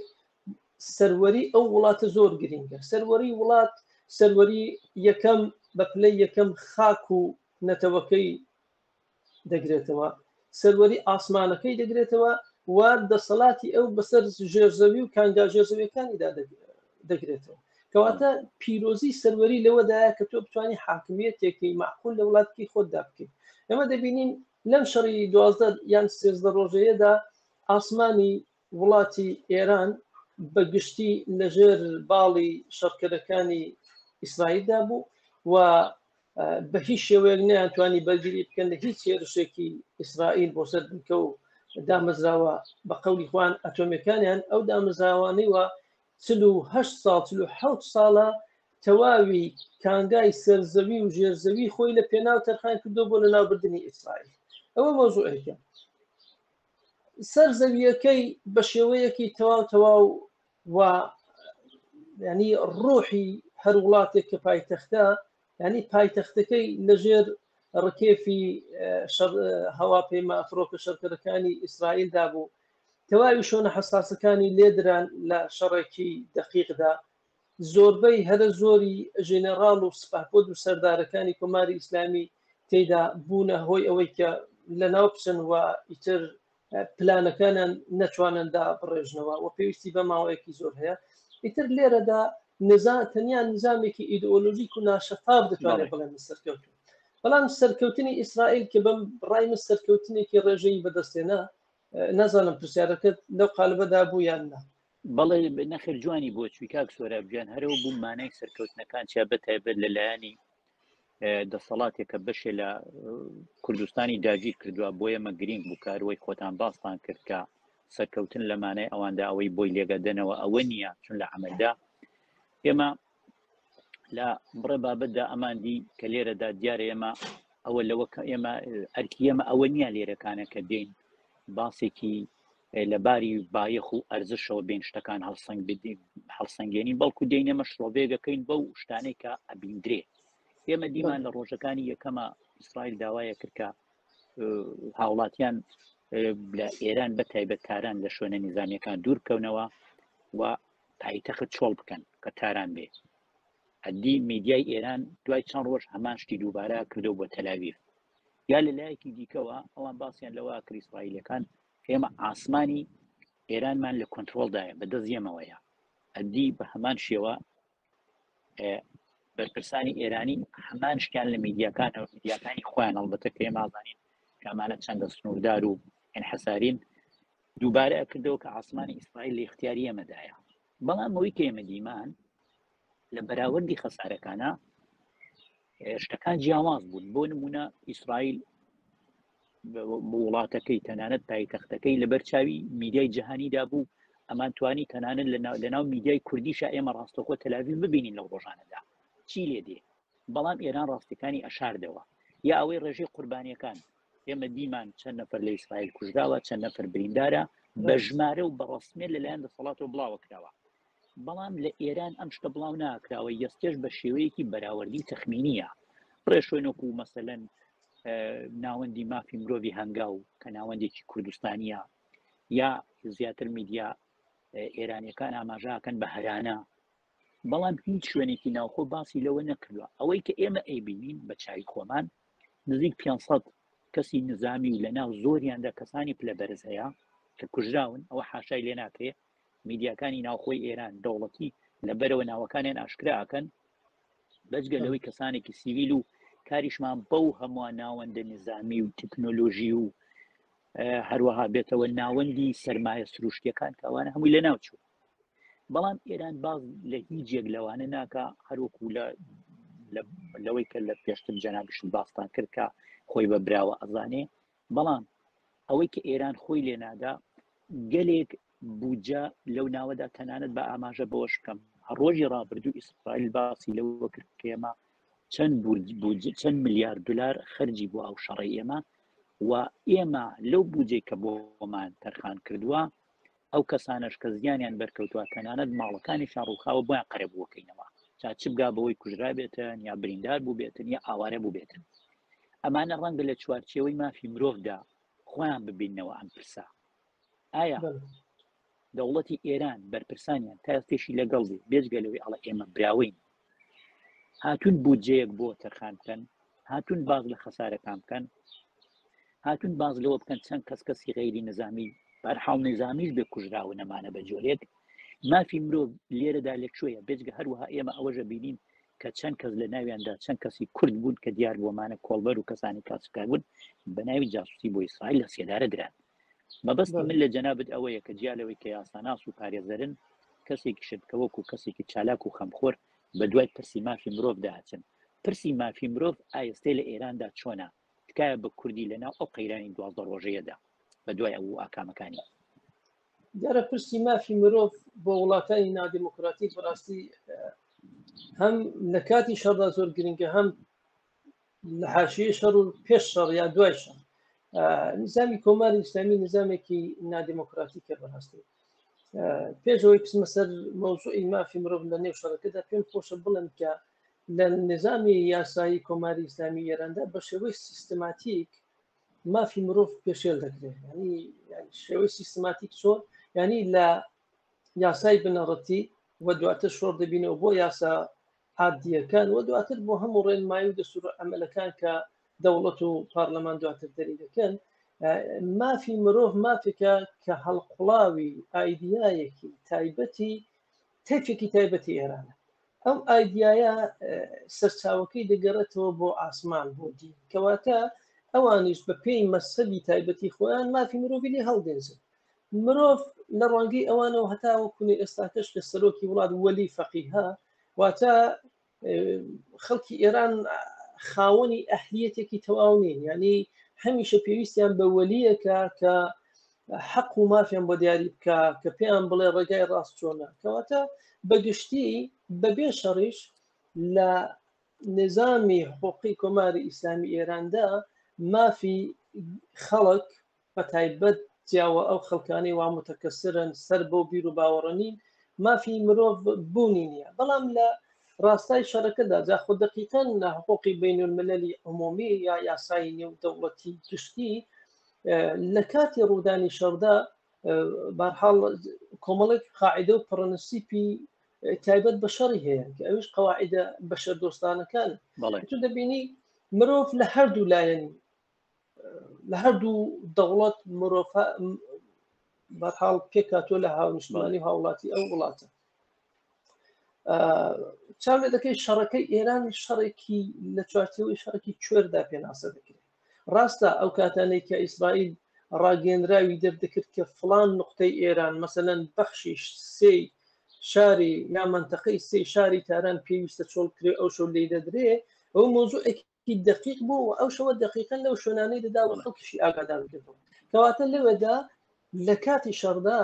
Speaker 2: سەروەری ئەو وڵاتە زۆر گرنگە سەروەری وڵات سەروەری یەکەم بە پلەی یەکەم خاک و نەتەوەکەی دەگرێتەوە سەروەری ئاسمانەکەی دەگرێتەوە و دەسەڵاتی ئەو بەسەر ژێرزەوی و کانگا ژێرزەویەکانیدا دەگرێتەوە کەواتە پیرۆزی سەروەری لەوەدایە کە تۆ بتانی حاکمیەتێکی معقول لە وڵاتکی خۆتدا بکەیت ئەمە دەبینین لەم شەڕی دوازدە یان سێزدە ڕۆژەیەدا ئاسمانی وڵاتی ئێران بە گشتی لەژێر باڵی شەڕکەرەکانی ئیسرائیلدا بوو و بە هیچ شێوەیەک نەیانتوانی بەرگری بکەن لە هیچ هێرشێکی ئیسرائیل بۆ سەر بنکە و دامەزراوە بە قەولی خوان ئەتۆمەکانیان ئەو دامەزراوانەی وە چل و هەشت ساڵ چل و حەوت ساڵە تەواوی کانگای سەرزەوی و ژێرزەوی خۆی لە پێناو تەرخان کردو بۆ لە ناوبردنی ئیسرائیل ئەوە مۆزوعێکە سەر زەویەکەی بە شێوەیەکی تەواو تەواو و ینی ڕۆحی هەر وڵاتێک کە پایتەختە ینی پایتەختەکەی لەژێر ڕکێفی هەواپەیمە ئەفرۆکە شەرکەرەکانی ئیسرائیلدا بوو تەواوی شۆنە حساسەکانی لێدران لە شەڕێکی دەقیقدا زۆربەی هەرە زۆری ژێنەڕاڵ و سپاپۆد و سەردارەکانی کۆماری ئیسلامی تێدا بوونە هۆی ئەوەی کە لە ناو بچن و ئیتر پلانەکانیان نەتوانندا بڕێژنەوە و پێویستی بە ماوەیەکی زۆر هەیە ئیتر لێرەدا نزا تەنیا نظامێکی ئیدئۆلۆژیک و ناشەفاف دەتوانێت بڵێن سەرکەوتن بەڵام سەرکەوتنی ئیسرائیل کە بەم ڕای من سەرکەوتنێکی ڕێژەی بەدەستێنا نازانم پرسیارەکەت لەو قالبەدا بوو یان نا بەڵێ
Speaker 1: نەخر جوانی بۆ چوی کاک سۆرابجان هەرەوە بوو مانای سەرکەوتنەکان چیا بەتایبەت لەلایەنی دەسەڵاتێکە بەشێ لە کوردستانی داگیر کردووە بۆ ئێمە گرنگ بوو کاروەی خۆتان باستان کردکە سەرکەوتن لە مانای ئەواندا ئەوەی بۆی لێگەدەنەوە ئەوە نییە چون لە عملدا ئێمە لە بڕێ بابەتدا ئەماندی کە لێرەدا دیارە ئێمە ئەوە لەوە ئێمە ئەرکی ئێمە ئەوە نییە لێرەکانە کە دێن باسێکی لە باری بایەخ و ئەرزشەوە بێن شتەکان هەڵسەنگ بدین هەڵسەنگێنی بەڵکو دێن ئێمە شڵۆڤێگەکەین بەو شتانێک کە ئەبیندرێ ئێمە دیمان لە ڕۆژەکانی یەکەمە ئیسرائیل داوایە کردکە هاوڵاتیان لە ئێران بە تایبەت تاران لە شوێنە نیزانەکان دوورکەونەوە و پایتەخت چۆڵ بکەن کە تاران بێ هەدی میدیای ئێران دوای چەند ڕۆژ هەمان شتی دووبارە کردو بۆ تەلاویف یا لە لایەکی دیکەوە ئەوان باسییان لەوە کریسڕایلەکان ئێمە ئاسمانی ئێرانمان لە کۆنتترۆلدایە بە دەزیەمەوەیە ئەدی بە هەمان شێوە بەرپرسانی ئێرانی هەمان شتیان لە میدیاکان و میدیاکانی خۆیان هەڵبەتە پێ مازانین کامانە چەندە سنووردار و ئەنحسارین دووبارە کردەوە کە ئاسمانی ئیسرائیل لە اختیاری ئێمەدایە بەڵام ئەوەی کە ئێمە دیمان لە بەراوردی خەسارەکانە شتەکان جیاواز بوون بۆ نمونە ئیسرائیل بۆ وڵاتەکەی تەنانەت پایتەختەکەی لەبەر چاوی میدیای جیهانیدا بوو ئەمان توانی تەنانەت لە ناو میدیای کوردیشە ئێمە ڕاستەخۆ تەلاوی ببینین لە ڕۆژانەدا چی لێ دێ بەڵام ئێران ڕاستەکانی ئەشاردەوە یا ئەوەی ڕێژەی قوربانیەکان ئێمە دیمان چەند نەفر لە ئیسرائیل کوژراوە چەند نەفر بریندارە بە ژمارە و بەڕسمێ لەلایەن دەسەڵاتەوە بڵاوە کراوە بەڵام لە ئێران ئەم شتە بڵاو ناکراوە یەستێش بە شێوەیەکی بەراوردی تەخمینیە ڕێشوێنۆکو مەسەەن ناوەندی مافی مرۆڤی هەنگاو کە ناوەندێکی کوردستانیە یا زیاتر میدیا ئێرانیەکان ئاماژاکەن بە هەرانە بەڵام هیچ شوێنێکی ناوخۆ باسی لەوە نەکردووە، ئەوەی کە ئێمە ئەیبینین بە چاوی خۆمان نزیک پێنج سەد کەسی نزامی و لەناو زۆریاندا کەسانی پلە بەرز هەیە کە کوژراون ئەوە حاشای لێ ناکرێ میدیاکانی ناوخۆی ئێران دەوڵەتی لە بەرەوە ناوەکانیان ئاشکرا ئەکەن بەجگە لەوەی کەسانێکی سیویل و کاریشمان بەو هەمووان ناوەندە نزامی و تەکنۆلۆژی و هەروەها بێتەوە ناوەندی سرمایە سروشتیەکان کەوانە هەمووی لە ناوچوو بەڵام ئێران باز لە هیچ یەک لەوانە ناکە هەروەکو لە لەوەی کە لە پێشتر جەنابشت باستان کرد کە خۆی بە براوە ئەزانێ بەڵام ئەوەی کە ئێران خۆی لێنادا گەلێک بودجە لەو ناوەدا تەنانەت بە ئاماژە بەوەش بکەم ڕۆژی ڕابردوو ئیسرائیل باسی لەوە کرد کێمە چەند چەند میلیارد دلار خەرجی بۆ ئەو شەڕی ئێمە و ئێمە لەو بودجەی کە بۆمان تەرخان کردووە ئەو کەسانەش کە زیانیان بەرکەوتووە تەنانەت ماڵەکانیشان ڕووخاوە بۆیان قەرەبووەکەینەوە جا چ بگا بەوەی کوژرابێتن یا بریندار بووبێتن یا ئاوارە بووبێتن ئەمانە ڕەنگە لە چوارچێوەی مافی مرۆڤدا خۆیان ببینەوە ئەم پرسە ئایا دەوڵەتی ئێران بەرپرسانیان تا تێشی لەگەڵ بێت بێجگە لەوەی ئەڵە ئێمە براوین هاتوون بودجەیەک بۆ تەرخان بکەن هاتوون باز لە خەسارەکان بکەن هاتوون باز لەوە بکەن چەند کەس کەسی غیری نزامی بەرحاڵ نزامیش بێ کوژراوە نەمانە بە جۆرێک مافی مرۆڤ لێرەدا لە کوێە بێجگە هەروەها ئێمە ئەوەژە بینین کە چەند کەس لە ناویاندا چەند کەسی کورد بوون کە دیار بۆمانە کۆڵبەر و کەسانی کاسکار بوون بە ناوی جاسوسی بۆ ئیسرائیل لە سێدارە دران مەبەست من لە جەنابەت ئەوەیە کە جیا لەوەی کە یاساناس و پارێزەرن کەسێکیشن کە وەکو کەسێکی چالاک و خەمخۆر بە دوای پرسی مافی مرۆڤ دا ئەچن پرسی مافی مرۆڤ ئایستێ لە ئێراندا چۆنە تکایە بە کوردی لە ناو ئەو قەیرانی دوازدە ڕۆژەیەدا بە دوای ئەو ئاکامەکانی
Speaker 2: دیارە پرسی مافی مرۆڤ بۆ وڵاتانی نادیموکراتی بەڕاستی هەم لە کاتی شەڕدا زۆر گرنگە هەم لە حاشیە شەڕ و پێش شەڕ یا دوای شەڕ نزامی کۆماری ئیسلامی نزامێکی نادیموکراتی کە بەڕاستی پێشەوەی پسمە سەر مەوزوعی مافی مرۆڤ لە نێو شەڕەکەدا پێم خۆشە بڵم کە لە نظامی یاسایی کۆماری ئیسلامی ئێراندا بە شێوەی سیستماتیک مافی مرۆڤ پێشێل دەکرێت ینی شێوەی سیستماتیک چۆن ینی لە یاسای بنەڕەتی و دواتر شۆر دەبینەوە بۆ یاسا عادیەکان و دواتر بۆ هەموو ڕێنمایی و دەسوور ئەمەلەکان کە دەوڵەت و پارلەمان دواتر دەری دەکەن مافی مرۆڤ مافێکە کە هەڵقڵاوی ئایدیایەکی تایبەتی تەفێکی تایبەتی ئێرانە ئەو ئایدایە سەرچاوەکەی دەگەڕێتەوە بۆ ئاسمان بۆ دی کەواتە ئەوانیش بە پێی مەسەبی تایبەتی خۆیان مافی مرۆڤی لێ هەڵدێنزن مرۆڤ لە ڕوانگەی ئەوانەوە هەتاوە کونی ئێستاکەش کە سەرۆکی وڵات وەلی فەقیها واتە خەڵکی ئێران خاوەنی ئەهلیەتێکی تەواو نین ینی هەمیشە پێویستیان بە وەلیەکە کە حەق و مافیان بۆ دیاری بکە کە پێیان بڵێ ڕێگای ڕاست چۆنە کەواتە بەگشتی بەبێ شەڕیش لە نظامی حقوقی کۆماری ئیسلامی ئێراندا مافی خەڵک بەتایبەت جیاوە ئەو خەڵکانەی وا متەکەسرن سەر بەو بیر و باوەڕە نین مافی مرۆڤ بوونی نییە بەڵام لە ڕاستای شەرەکەدا جاخۆ دقیقەن لە حقوقی بین المللی عمومی یا یاسایی نێو دەوڵەتی گشتی لە کاتی ڕوودانی شەردا بارحاڵ کۆمەڵێک قاعدە و پڕنسیپی تایبەت بە شەڕی هەیە کە ئەوش قواعدە بەشە دۆستانەکان تو دەبینی مرۆڤ لە هەردوو لایەن لە هەردوو دەوڵەت مرۆڤ بەرحاڵ پێکاتۆ لە هاونیشتمانی هاوڵاتی ئەو وڵاتە چاو لە دەکەی شەڕەکەی ئێران شەڕێکی لە چوارچەوەی شەڕکی کوێردا پێناسە دەکرێت ڕاستە ئەو کاتانەی کە ئیسرائیل ڕاگەنراوی دەردەکرد کە فلان نقطەی ئێران مەسەەن بەخشی سێ شاری یا منتەقەی سێ شاری تاران پێویستە چۆڵکرێ ئەو شەو لی دەدرێ ئەو مۆزوعێکی هی دقیق بوو و ئەو شەوە دقیقن لەو شوێنانەی دەدا و خەڵکیشی ئاگادار کردەوە کەواتە لەوێدا لە کاتی شەڕدا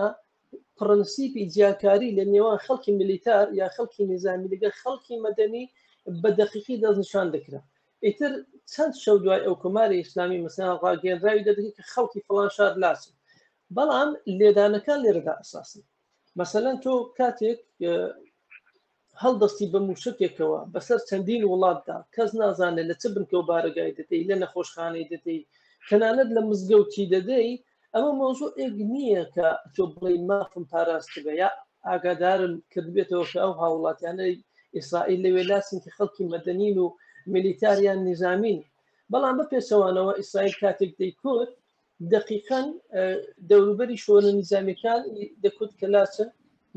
Speaker 2: پرەنسیپی جیاکاری لە نێوان خەڵکی ملیتار یا خەڵکی نظامی لەگەر خەڵکی مەدەنی بە دقیقی دەستنیشان دەکرا ئیتر چەند شەو دوای ئەو کۆماری ئیسلامی مەسەن ڕاگەنراوی دەدەکە کە خەڵکی فلان شار لاچ بەڵام لێدانەکان لێرەدا ئەساسن مەسەەن تۆ کاتێک هەڵدەستی بە موشەکێکەوە بەسەر چەندین وڵاتدا کەس نازانێت لە چ بنکە و بارەگای دەدەی لە نەخۆشخانەی دەدەی تەنانەت لە مزگەوتی دەدەی ئەمە مەوزوعێک نییە کە تۆ بڵێی مافم پاراستبێ یا ئاگادارم کردبێتەوە کە ئەو هاوڵاتیانەی ئیسرائیل لە وێلاسن کە خەڵکی مەدەنین و میلیتاریان نظامین بەڵام بە پێچەوانەوە ئیسرائیل کاتێک دەیکوت دەقیقەن دەوروبەری شۆنە نیزامیەکان دەکوت کە لاچن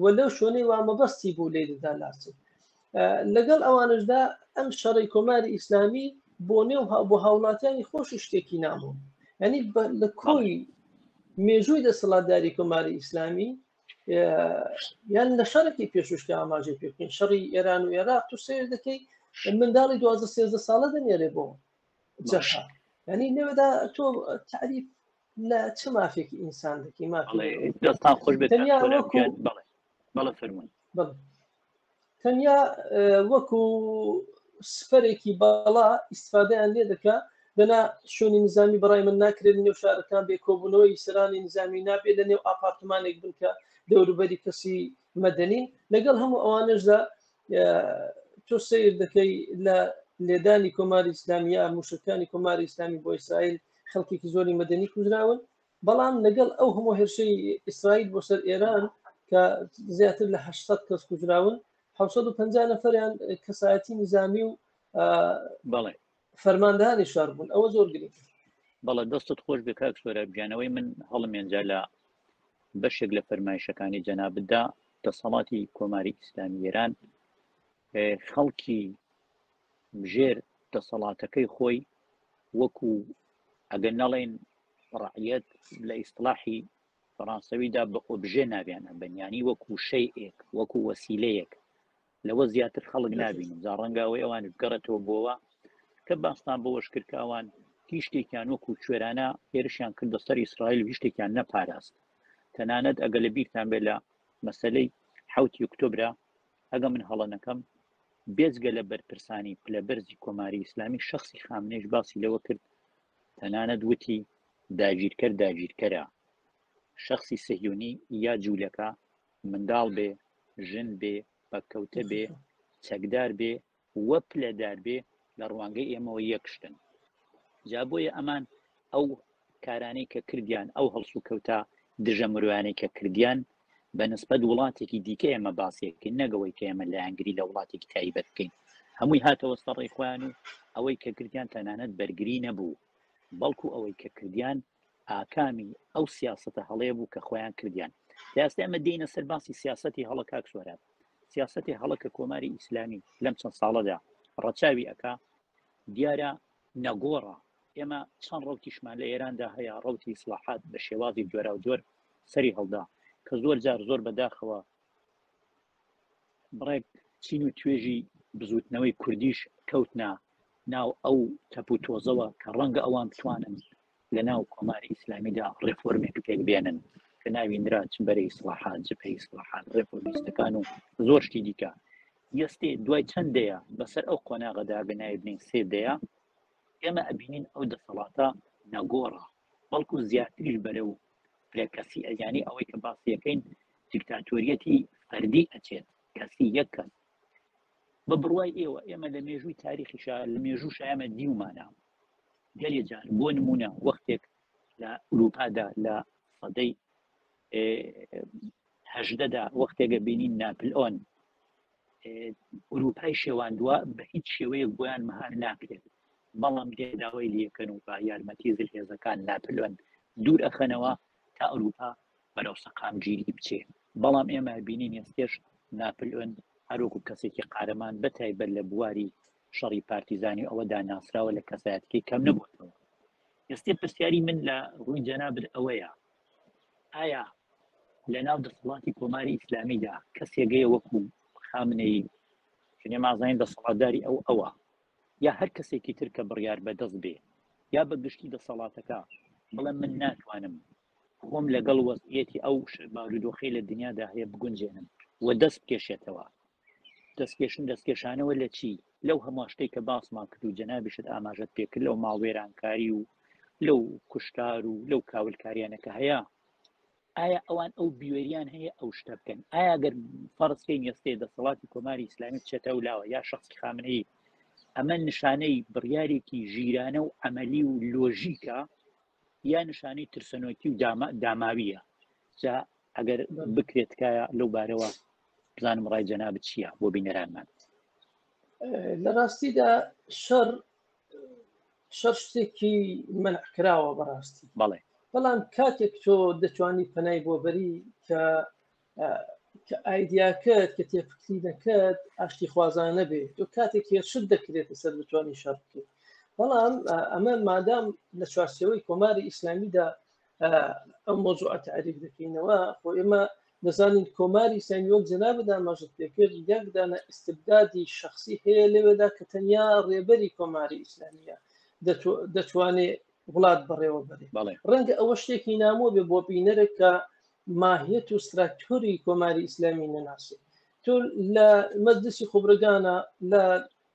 Speaker 2: و لەو شوێنەی وا مەبەستی بوو لێ دەدا لاچن لەگەڵ ئەوانشدا ئەم شەڕی کۆماری ئیسلامی بۆ نێو بۆ هاوڵاتیانی خۆشی شتێکی نامۆن ینی لە کۆی مێژووی دەسەڵاتداری کۆماری ئیسلامی یان لە شەرکی پێشوشکە ئاماژەی پێکەین شەڕی ئێران و عێراق تو سێر دەکەی منداڵی دوازە سێزدە ساڵە دەنێرێ بۆ جەشە یعنی لێوەدا تۆ تعریف لە چ مافێکی ئینسان دەکی مافێستان خۆش بێت بەڵە
Speaker 1: فەرمون
Speaker 2: تەنیا وەکو سپەرێکی باڵا ئیسفادەیان لێ دەکە دەنا شوێنی نزامی بەڕای من ناکرێت نێو شارەکان بێ کۆبوونەوەی سرانی نزامی نابێت لە نێو ئاپارتمانێک بنکە دەوروبەری کەسی مەدەنین لەگەڵ هەموو ئەوانشدا تۆ سیر دەکەی لە لێدانی کۆماری ئسلامیە موشکەکانی کۆماری ئسلامی بۆ ئیسرائیل خەڵکێکی زۆری مەدەنی کوژراون بەڵام لەگەڵ ئەو هەموو هێرشەی ئیسرائیل بۆ سەر ئێران کە زیاتر لە 800 کەس کوژراون 1950 نەفریان کەسایەتی نظامی و بەڵێ
Speaker 1: فەرماندانی
Speaker 2: شار بوون ئەوە زۆر گرنگ بەڵە دەستت
Speaker 1: خۆش بێ کاک سۆرا بگیانەوەی من هەڵمێنجا لە بەشێک لە فەرمایشەکانی جەنابدا دەسەڵاتی کۆماری ئیسلامی ئێران خەڵکی ژێر دەسەڵاتەکەی خۆی وەکو ئەگەر نەڵێن ڕعەت لە ئیسلاحی فەڕانسەویدا بە ئۆبژێ ناویانە بەنیانی وەکو شەیئێک وەکو وەسیلەیەک لەوە زیاتر خەڵک نبینم جا ڕەنگە ئەوەی ئەوان بگەڕێتەوە بۆەوە کە باستان بۆەش کردکوان هیچ شتێکیان وەکو کوێرانە هێرشیان کردە سەر ئیسرائیل و هیشتێکیان نەپاراست تەنانەت ئەگە لە بیرتان بێت لە مەسلەی حوت یکتۆبرا ئەگە من هەڵە نەکەم بێزگە لە بەرپرسانی پلە بەرزی کۆماری ئیسلامی شخصی خامنێش باسی لەوە کرد تەنانەت وتی داگیرکەر داگیرکەرە شخصی سەهیونی یا جوولەکە منداڵ بێ، ژن بێ، پەککەوتە بێ، چەکدار بێ و پلەدار بێ لە ڕوانگەی ئێمەوە یەک شتن. جا بۆیە ئەمان ئەو کارانەی کە کردیان، ئەو هەڵسوکەوتە دژە مرۆیانەی کە کردیان، بە نسبەت وڵاتێکی دیکە ئێمە باسی دەکەین، نەک ئەوەی کە ئێمە لایەنگری لە وڵاتێکی تایبەت بکەین. هەمووی هاتەوە سەر ڕێی خۆیان و ئەوەی کە کردیان تەنانەت بەرگری نەبوو، بەڵکوو ئەوەی کە کردیان ئاکامی ئەو سیاستە هەڵەیە بوو کە خۆیان کردیان دەستی ئەمە دێنە سەر باسی سیاستی هەڵە کاک سۆران سیاستی هەڵە کە کۆماری ئیسلامی لەم چەند ساڵەدا ڕەچاوی ئەک دیارە نەگۆڕە ئێمە چەند ڕوتیشمان لە ئێراندا هەیە ڕوتی ئیسلاحات بە شێوازی جۆرا و جۆر سەری هەڵدا کە زۆر جار زۆر بەداخەوە بڕێک چین و توێژی بزوتنەوەی کوردیش کەوتنا ناو ئەو تەپ و تۆزەوە کە ڕەنگە ئەوان توانن لە ناو کۆماری ئیسلامیدا ڕێفۆرمێک پێک بێنن کە ناوی نراچ بەرەی سڵحات جپەی سڵحات ڕێفۆرمیستەکان و زۆر شتی دیکە یستێ دوای چەند دەیە بەسەر ئەو قۆناغەدا گەنایبنین سێ دەیە ئێمە ئەبینین ئەو دەسەڵاتە نەگۆڕە بەڵکو زیاتریش بەرە و فرە کەسی ئەیانی ئەوەی کە باسیەکەین دیکتاتۆریەتی فەردی ئەچێت کەسی یەک کەس بە بڕوای ئێوە ئێمە لە مێژووی تاریخی شار لە مێژوو شایمە دیومانە گەلێ جار بۆ نمونە وەختێک لە ئوروپادا لە سەدەی هەژدەدا وەختێگە بینین ناپل ئۆن ئوروپای شێواندووە بە هیچ شێوەیە بۆیان مەهار ناکرێت بەڵام دێن داوای لێکەن و بە یارمەتی زلهێزەکان ناپلیۆن دوور ئەخەنەوە تا ئەوروپا بەرەو سەقامگیری بچێ بەڵام ئێمە بینین ئێستێش ناپلیۆن هەروەکو کەسێکی قارەمان بەتایبەت لە بواری شەڕی پارتیزانی ئەوەدا ناسراوە لە کەسایەتکی کەم نەبووەوە ئێستی پرسیاری من لە ڕووی جەنابر ئەوەیە ئایا لە ناو دەسەڵاتی کۆماری ئیسلامیدا کەسێگەیە وەکو خامنەی شنێ مازانین دەسەڵاتداری ئەو ئەوە یا هەر کەسێکی تر کە بڕیار بەدەست بێ یا بە گشتی دەسەڵاتەکە بڵێ من ناتوانم خۆم لەگەڵ وەزعیەتی ئەو بارودۆخی لە دنیادا هەیە بگونجێنم و دەست بکێشێتەوە دەستکێشن دەستکێشانەوە لە چی لەو هەموو شتێک کە باسمان کرد و جەنابیشت ئاماژەت پێکرد لەو ماڵوێرانکاری و لەو کوشتار و لەو کاولکاریانەکە هەیە ئایا ئەوان ئەو بوێریان هەیە ئەو شتە بکەن ئایا گەر فەرسکەی نێستێ دەسەڵاتی کۆماری ئیسلامی بچێتە و لاوە یا شخصی خامنەی ئەمە نیشانەی بڕیارێکی ژیرانە و ئەمەلی و لۆژیکە یا نیشانەی ترسەنۆکی و داماویە جا ئەگەر بکرێت کایە لەو بارەوە بزانم ڕای جەنا بچیە بۆ بینەرانمان لە
Speaker 2: ڕاستیدا شەڕ شەڕ شتێکی منع کراوە بەڕاستی بەڵێ بەڵام
Speaker 1: کاتێک
Speaker 2: تۆ دەتوانی پەنای بۆ بەری کە کە ئایدیاکەت کە تێفکرینەکەت ئاشتی خوازانە بێت تۆ کاتێک هێرشت دەکرێتە سەر بتوانانی شەر بکەیت بەڵام ئەمە مادام لە چوارسەوەی کۆماری ئیسلامیدا ئەم مۆزوع تعریف دەکەینەوە خۆ ئێمە دەزانین کۆماری سەنیۆک جەنابە داماژت پێکرد یەکدانە ئستبدادی شخصی هەیە لەوێدا کە تەنیا ڕێبەری کۆماری ئیسلامیە دەتوانێت وڵات بەڕێوە بەرێ ڕەنگە ئەوە شتێکی نامۆ بێ بۆ بینەرێک کە ماهیەت و ستراکتۆری کۆماری ئیسلامی نەناسێت تۆ لە مەزدسی خۆبرگانە لە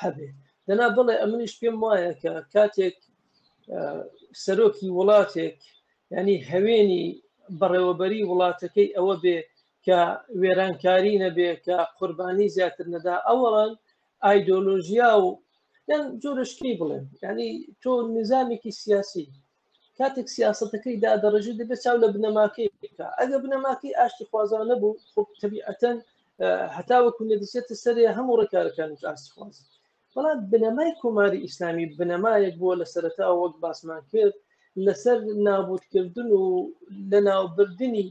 Speaker 2: هەبێ دەنا بڵێ ئەمنیش پێم وایە کە کاتێک سەرۆکی وڵاتێک ینی هەوێنی بەڕێوەبەری وڵاتەکەی ئەوە بێ کە وێرانکاری نەبێ کە قوربانی زیاتر نەدا ئەوەڵان ئایدۆلۆژیا و یان جۆرشکی بڵێن ینی تۆ نظامێکی سیاسی کاتێک سیاستەکەی دادەڕژی دەبێت چاو لە بنەماکەی بکە ئەگە بنەماکەی ئاشتی خوازانە بوو خب تەبیعەتەن هەتاوەکو نەدیسێتە سەرێ هەموو ڕێکارەکانی ئاستخواز بەڵام بنەمای کۆماری ئیسلامی بنەمایەک بووە لە سەرەتا وەک باسمان کرد لەسەر نابوتکردن و لە ناوبردننی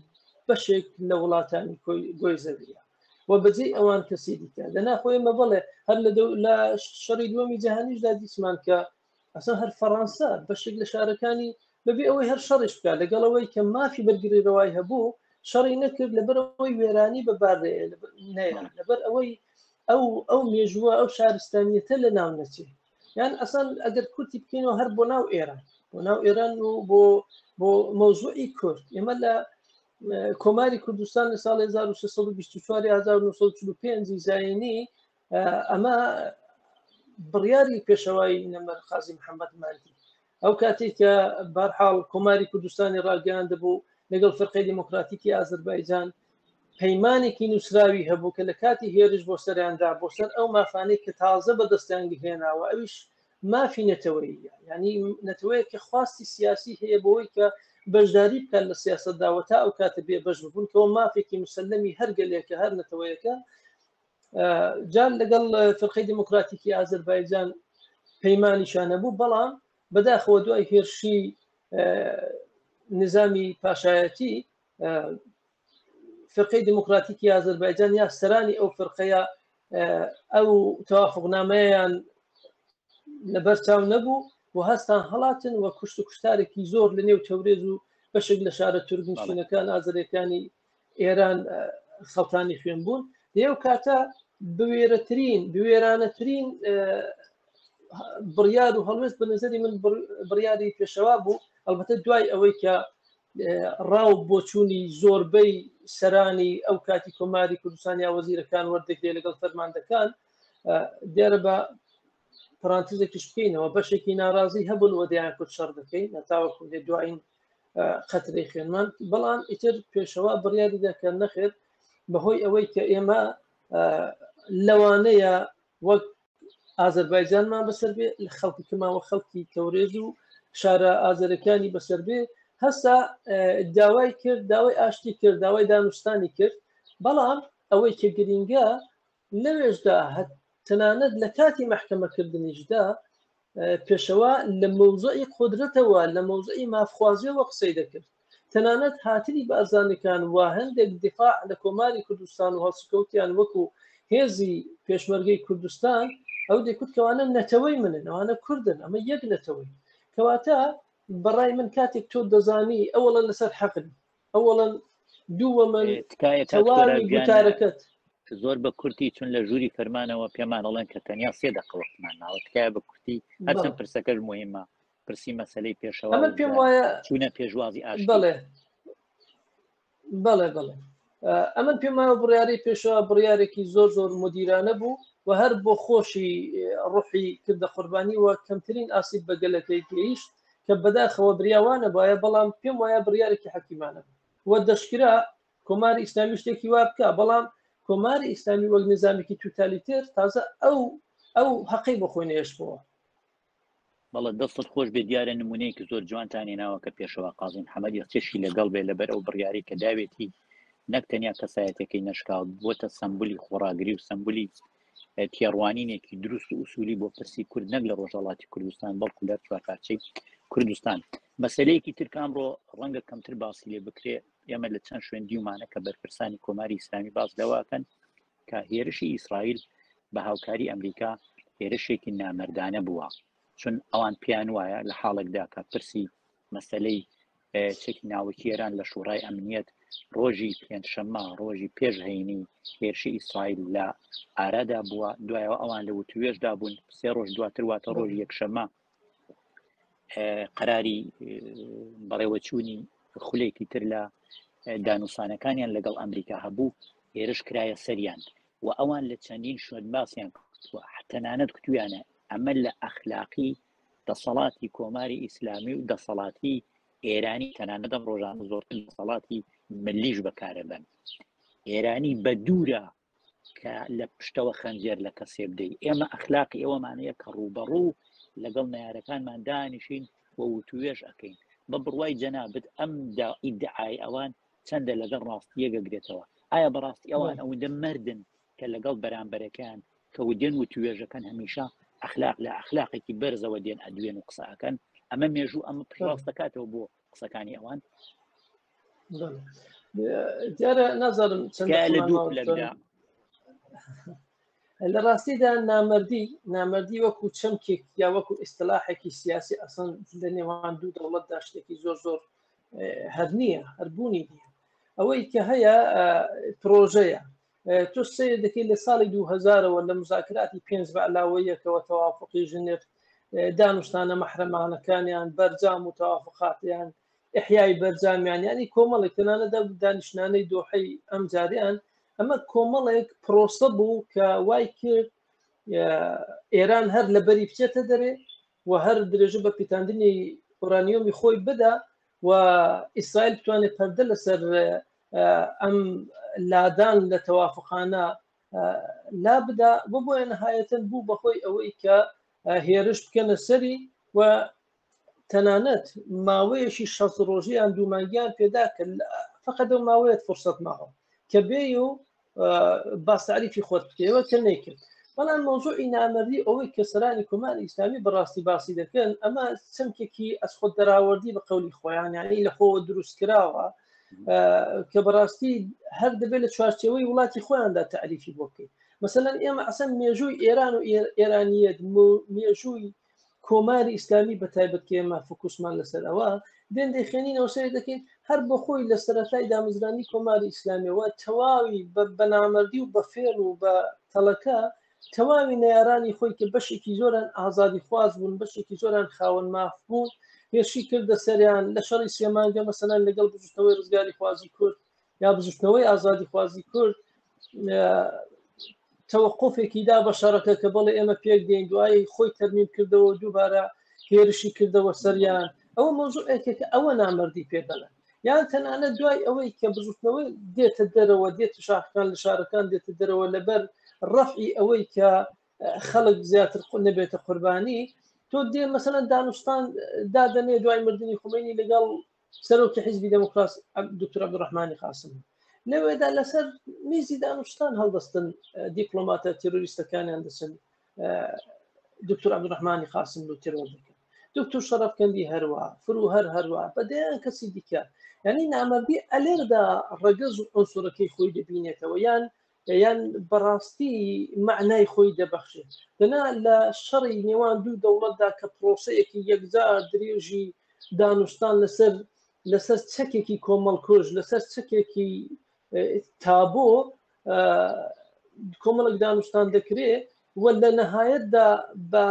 Speaker 2: بەشێک لە وڵاتانی گۆی زەویە و بەجێ ئەوان کەسی دیکە لە ناخۆی مە بڵێ هەر لە شەڕی دووەمی جیهانیشدا دیسمان کە ئەسا هەر فەڕەنسا بەشێک لە شارەکانی بەبێ ئەوەی هەر شەڕیش بکات لەگەڵەوەی کە مافی بەرگری ڕەوای هەبوو شەڕی نەکرد لەبەر ئەوەی وێرانی بەبار لەبەر ئەوەی ئەو ئەو مێژووە ئەو شارستانیەتە لە ناو نەچێ یان ئەسان ئەگەر کورتی بکەینەوە هەر بۆ ناو ئێران بۆ ناو ئێران و بۆ بۆ مەوزوعی کورد ئێمە لە کۆماری کوردستان لە ساڵ 1924 1945 زایانی ئەمە بڕیاری پێشەوای نەمەر خازی محەممەد ماندی ئەو کاتێک کە بارحاڵ کۆماری کوردستانی ڕاگەیان دەبوو لەگەڵ فرقی دیموکراتیکی ئازربایجان پەیمانێکی نووسراوی هەبوو کە لە کاتی هێرش بۆ سەریاندا بۆ سەر ئەو مافانەی کە تازە بە دەستیان گهێناوە ئەویش مافی نەتەوەیە ینی نەتەوەیە کە خواستی سیاسی هەیە بۆی کە بەشداری بکات لە سیاستداوە تا ئەو کاتە بێ بەش ببوون کەەوە مافێکی مسللمی هەرگەلێکە هەر نەتەوەیەەکە جان لەگەڵ فرقەی دموکراتیکی ئازربایجان پەیمانیشانە بوو بەڵام بەداخەوە دوای هێرشی نظامی پاشایەتی فرقەی دموکراتیکی ئازربایجان یا سەرانی ئەو فرقەیە ئەو توافقنامەیان لەبەر چاو نەبوو و هەستان هەڵاتن و کوشت و کوشتارێکی زۆر لە نێو تەورێز و بەشێک لە شارە تورگنشینەکان ئازرەکانی ئێران خەڵتانی خوێن بوون لێو کاتە بوێرەترین بوێرانەترین بڕیار و هەڵوێست بە نظری من بڕیاری پێشەوا بوو ئەلبەتە دوای ئەوەی کە ڕاو بۆچوونی زۆربەی سەرانی ئەو کاتی کۆماری کوردستان یا وەزیرەکان وەردەگرێ لەگەڵ فەرماندەکان دیارە بە پرانتزێکیش بکەینەوە بەشێکی ناڕازی هەبوون وەدەیان کورد شەڕ دەکەین نەتاوە کوردێ دوایین قەترەی خوێنمان بەڵام ئیتر پێشەوا بڕیاری دەکە نەخێت بەهۆی ئەوەی کە ئێمە لەوانەیە وەک ئازربایجانمان بەسەر بێ خەڵکی کەماوە خەڵکی تەورێز و شارە ئازرەکانی بەسەر بێ هەستا داوای کرد داوای ئاشتی کرد داوای دانوستانی کرد بەڵام ئەوەی کە گرینگە لەوێشدا تەنانەت لە کاتی مەحکەمەکردنیشدا پێشەوا لە مەوزعی قدرەتەوە لە مەوزعی مافخوازیەوە قسەی دەکرد تەنانەت هاتنی بارزانەکان و هەندێک دفاع لە کۆماری کوردستان و هەڵسکەوتیان وەکو هێزی پێشمەرگەی کوردستان ئەو دەکوتکەوانە نەتەوەی منن ئەوانە کوردن ئەمە یەک نەتەوەی کەواتە بەڕای من کاتێک تۆ دەزانی ئەوڵە لەسەر حەقن ئەوەڵەن دووەمە تەواویتارەکەت زۆر بە
Speaker 1: کورتی چون لە ژووری فەرمانەوە پێمان ئەڵێن کە تەنیا سێ دەقەوەختمان ناوە تکایە بە کورتی هەچەند پرسەکەش مهمە پرسی مەسلەی پێشەوە پێم وایە
Speaker 2: چونە پێشوازی
Speaker 1: ئاش بڵێ
Speaker 2: بڵێ بڵێ ئەمن پێماوە بڕیاری پێشەوە بڕیارێکی زۆر زۆر مدیرانە بوو و هەر بۆ خۆشی ڕحی کردە قوربانی و کەمترین ئاسیب بەگەلەکەی گەیشت کە بەداخەوە بریاوانە بایە بەڵام پێم وایە بڕارێکی حەکیمانە وە دەشکرا کۆمار ئیسلامی شتێکی وا بکە بەڵام کۆماری ئیسلامی وەک نظامێکی توتالیتێر تازە ئەو ئەو هەقی بۆ خۆی نێشتەوە
Speaker 1: بەڵە دەستت خۆش بێ دیارە نمونەیەکی زۆر جوانتانی ناوە کە پێشەوە قازین حەمەدی چێشی لەگەڵ بێ لەبەر ئەو بڕیاری کە داوێتی نەک تەنیا کەسایەتەکەی نشکاوت بۆتە سمبولی خۆراگری و سمبولی تێڕوانینێکی دروست و ئوسولی بۆ پرسی کورد نەک لە ڕۆژهڵاتی کوردستان بەڵکو لە چوارپارچەی کوردستان مەسلەیەکی ترکان ڕۆ ڕەنگە کەمتر باسی لێ بکرێ ئێمە لە چەند شوێن دیومانە کە بەرپرسانی کۆماری ئیسلامی باس لەواکەن کە هێرشی ئیسرائیل بە هاوکاری ئەمریکا هێرشێکی نامردانە بووە چون ئەوان پیان وایە لە حاڵێکدا کە پرسی مەسلەی چەکی ناوەکی ئێران لە شوڕای ئەمنیەت ڕۆژی پێنجشەممە ڕۆژی پێش هەینی هێرشی ئیسرائیل لە ئارادا بووە دوایەوە ئەوان لە وتوێشدا بوون سێ ڕۆژ دواتر واتە ڕۆژ یەکشەمە قەراری بەڕێوەچوونی خولێکی تر لە دانوسانەکانیان لەگەڵ ئەمریکا هەبوو هێرش کرایە سەریان و ئەوان لە چەندین شوێن باسییان کردووە تەنانەت کتویانە ئەمە لە ئەخلاقی دەسەڵاتی کۆماری ئیسلامی و دەسەڵاتی ئێرانی تەنانەدەم ڕۆژان زۆرتر دەسەڵاتی ملیش بەکارەبن ئێرانی بە دوورە کە لە پشتەوە خەنجێر لە کەسێ بدەیت ئێمە ئەخلاقی ئەوەمانەیە کە ڕووبەڕوو لەگەڵ نارەکانمان دانیشین و وتوێش ئەەکەین بە بڕوای جەنابەت ئەم ئیدعای ئەوان چەندە لەگەڵ ڕاستیە گەگرێتەوە ئایا بەڕاستی ئەوان ئەوەندە مردن کە لەگەڵ بەرامبەرەکەیان کە ودێن وتوێژەکەن هەمیشە ئەخلاق لە ئەخلاقێکی بەرزەوە دێن ئەدوێن و قسە ئەکەن ئەمە مێژوو ئەمە پشڕاست دەکاتەوە بۆ قسەکانی ئەوان دیارە
Speaker 2: نازانم چەند لە دوو
Speaker 1: لەدا
Speaker 2: لە ڕاستیدا نامردی نامردی وەکو چەمکێک یا وەکو ئیسلاحێکی سیاسی ئەسان لە نێوان دوو دەوڵەتدا شتێکی زۆر زۆر هەر نییە هەربوونی نیە ئەوەی کە هەیە پرۆژەیە تۆ سیر دەکەیت لە ساڵی 2000ەوە لە مزاکراتی پێنج بە علاوەیەکەوە تەوافقی ژنێف دانوستانە مەحرەمانەکانیان بەرجام و تەوافقاتیان احیای بەرجامیان ینی کۆمەڵێک تەنانە دە دانیشتانەی دۆحی ئەم جاریان ئەمە کۆمەڵێک پرۆسە بوو کە وای کرد ئێران هەر لە بەری بچێتە دەرێ و هەر درێژە بە پیتاندنی ئۆرانیۆمی خۆی بدا و ئیسرائیل بتوانێت پەردە لەسەر ئەم لادان لە تەوافقانە لا بدا بۆ بۆیە نەهایەتەن بوو بەهۆی ئەوەی کە هێرش بکەنە سەری و تەنانەت ماوەیەشی شە ڕۆژیان دوومانگیان پێدا کە فقط و ماوەیەت فرسەت ماوە کە بێ و باستعریفی خۆت بکەوە کە نەیکرد بەڵام مۆزوعی نامەری ئەوەی کە سەرانی کومان ئیسلامی بەڕاستی باسی دەکەن ئەمە چەمکێکی ئەس خۆ دەراوەردی بە قولی خۆیان یعنی لە خۆوە دروست کراوە کە بەڕاستی هەر دەبێت لە چوارچەوەی وڵاتی خۆیاندا تعریفی بۆ بکەیت مثلەن ئێمە ئەسەن مێژووی ئێران و ئێرانیت مێژووی کۆماری ئیسلامی بە تایبەت کە ئێمە فکوسمان لەسەر ئەوە بێن دەیخێنینەوە سێ دەکەین هەر بە خۆی لە سەرەتای دامەزرانی کۆماری ئیسلامیەوە تەواوی بە بەنامەردی و بە فێڵ و بە تەڵەکە تەواوی نارانی خۆی کە بەشێکی زۆران ئازادی خواز بوون بەشێکی زۆران خاوەن ماف بوون هێرشی کردە سەریان لە شەڕی سێمانگە مەسەلەن لەگەڵ بزوتنەوەی ڕزگاری خوازی کورد یا بزوشتنەوەی ئازادی خوازی کورد تەوەقفێکی دا بە شەڕەکە کە بەڵێ ئێمە پێک دێن دوایی خۆی تەرمیم کردەوە دووبارە هێرشی کردەوە سەریان ئەو مۆزوع ئەکێکە ئەوە نامردی پێدەڵە یان تەنانە دوای ئەوەی کە بزوتنەوەی دێتە دەرەوە دێت شاخکان لە شارەکان دێتە دەرەوە لەبەر ڕەفی ئەوەی کە خەڵک زیاتر قو نەبێتە قوربانی تۆ دێ مەسەن دانوستان دادەنێ دوای مردنی خومینی لەگەڵ سەرۆکی حیزبی دەموکراس دکتور عبدڕحمانی قاسم لەوێدا لەسەر میزی دانوشتان هەڵدەستن دیپلۆماتە تیرۆریستەکانیان دەچن دکتور عبدڕحمانی قاسم و تیرۆر دەکەن دکتور شەرفکەندی هەروە فرو هەر هەروە بەدەیان کەسی دیکە ینی نامەردی ئەلێردا ڕگەز و ئەوسۆرەکەی خۆی دەبینێتەوە یان یان بەڕاستی مەعنای خۆی دەبەخشێت دەنا لە شەڕی نێوان دوو دەوڵەتدا کە پرۆسەیەکی یەکجار درێژی دانوستان لەسەر لەسەر چەکێکی کۆمەڵکۆژ لەسەر چەکێکی تابۆ کۆمەڵک دانوستان دەکرێت وە لە نەهایەتدا بە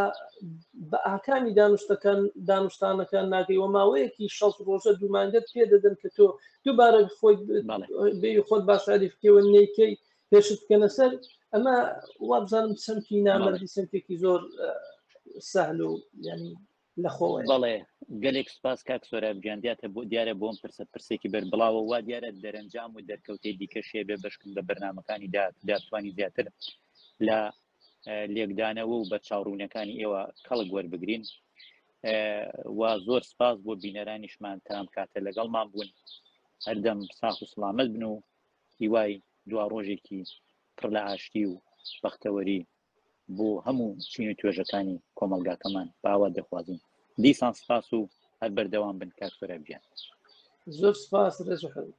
Speaker 2: بە ئاکامی دانوستەکان دانوستانەکان ناگەی وە ماوەیەکی شەست ڕۆژە دوو مانگەت پێ دەدەن کە تۆ دووبارە خۆی بەڵێ بێ خۆت باشاریفکەوە نەیکەی پێشت بکەنە سەر ئەمە وابزانم سمتی بەڵێ نامەردی سمتێکی زۆر سەهل و ینی لەخۆوە. بەڵێ
Speaker 1: گەلێک سوپاس کاک سۆراب گیان دیاتە بۆ دیارە بۆم پرسە پرسێکی بەر بڵاوە وا دیارە دەرەنجام و دەرکەوتەی دیکە شێ بێ بەشکن بە بەرنمەکانی داتوانی زیاتر لە لێکدانەوە و بە چاڕوونەکانی ئێوە کەڵک وەربگرین وا زۆر سپاس بۆ بینەرانیشمان تام کاتە لەگەڵمان بوون هەردەم ساخ و سلامت بن و هیوای دوا ڕۆژێکی پڕ لە ئاشتی و بەختەوەری بۆ هەموو چین و توێژەکانی کۆمەلگاکەمان باوە دەخوازین دیسان سپاس و هەر بەردەوام بن کاک سۆرا گیان زۆر
Speaker 2: سپاس ڕێز و حەوت